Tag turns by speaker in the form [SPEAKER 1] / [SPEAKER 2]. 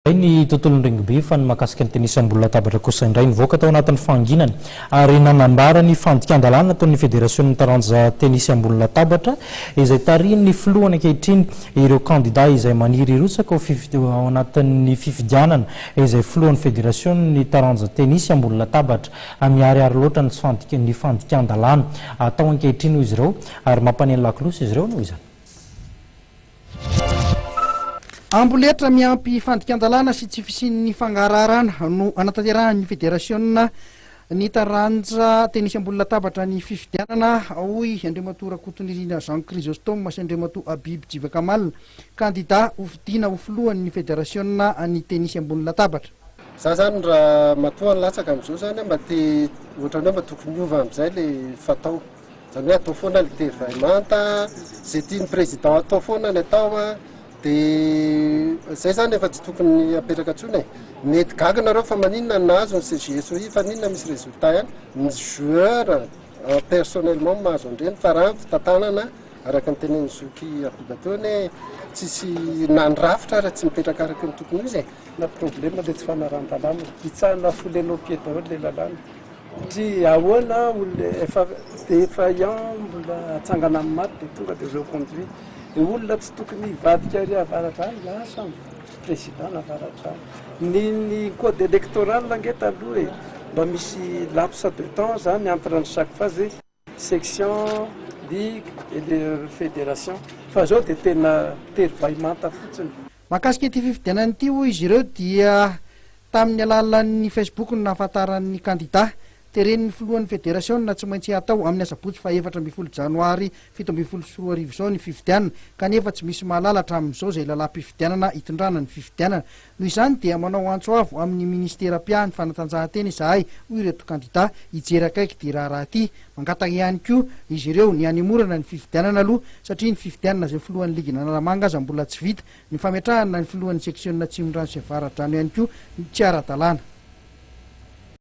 [SPEAKER 1] Izay ny tontolon'ny rugby fa ny mahakasika ny tennis ambony latabatra kosa indray nivoaka tao anatin'ny fahanginana ary nanambara ny fandikan-dalàna ataon'ny federasionin'ny taranja tennis ambony latabatra izay tarihin'ny filohany ankehitriny ireo kandida izay maniry hirotsaka ao ao anatin'ny fifidianana izay filohan'ny federasionin'ny taranja tennis ambony latabatra miharihary loatra ny tsy ny fandikan-dalàna atao ankehitriny hoy izy ireo ary mampaneno lakolosy izy ireo noho izany.
[SPEAKER 2] Amboletra miampy fandikan-dalàna sy tsy fisian'ny fangaraharana no anatanterahan'ny federasiona ny taranja tenisy ambony latabatra ny fifidianana, hoy Andriamatoa Rakotonirina Jean Chrysostome sy Andriamatoa Habib Jivakamal, kandidà ho fidiana ho filohan'ny federasiona ny tenisy ambony latabatra. Za zany
[SPEAKER 3] raha matoa latsaka amzao zany mba te ohatrany hoe mba tokony hiova amzay le fatao. Zany hoe atao foana ny thé vay manta, izay tian'ny président atao foana ny atao an, dia izay zany efa tsy tokony apetraka intsony e, mety gaga nareo fa maninona no nahazo ny CGSOI fa maninona misy résultat ihany, ny joueurs personnellement no mahazo an'ireny fa raha ny fitantanana araka ny tenenin'i zoky Yacoub teo anie tsisy na ny rafitra ary tsy mipetraka araka ny tokony ho izy e. Na problème le
[SPEAKER 4] tsy fanarahan-dalàna, hitsahana foulée nos pieds daholo le lalàna. Satria ahoana olona efa defaillant mbola atsangana amin'ny maty dia tonga dia reconduit. Dia olona tsy tokony hivadika ary avaratra any lasa ny président navaratra any. Ny ny code électoral ange taloha e, mba misy lapse de temps zany entre ny chaque phase. section, ligue et le fédération fa izao dia tena tery vay manta fotsiny. Mahakasika ity
[SPEAKER 2] fifidianana ity hoy izy ireo dia tamin'ny alalan'ny Facebook no nahafantaran'ny kandida. Teren'ny filohan'ny federasiona tsy maintsy hatao amin'ny asabotsy faha efatra ambin'ny folo janoary fito ambin'ny folo sy roa arivo izao ny fifidianana kanefa tsy misy mahalala hatramin'izao izay lalàm-pifidianana hitondrana ny fifidianana Noho izany dia manao antso avo amin'ny Minisitera mpiahy ny fanatanjahantena izahay, hoy ireto kandidà hijery akaiky ity raharaha ity. Mangataka ihany koa izy ireo ny hanemorana ny fifidianana aloha satria ny fifidianana izay filohan'ny ligin'Analamanga aza mbola tsy vita. Ny fametrahana ny filohan'ny seksionina Atsimondrano sy Avaradrano ihany koa tsy ara-dalàna.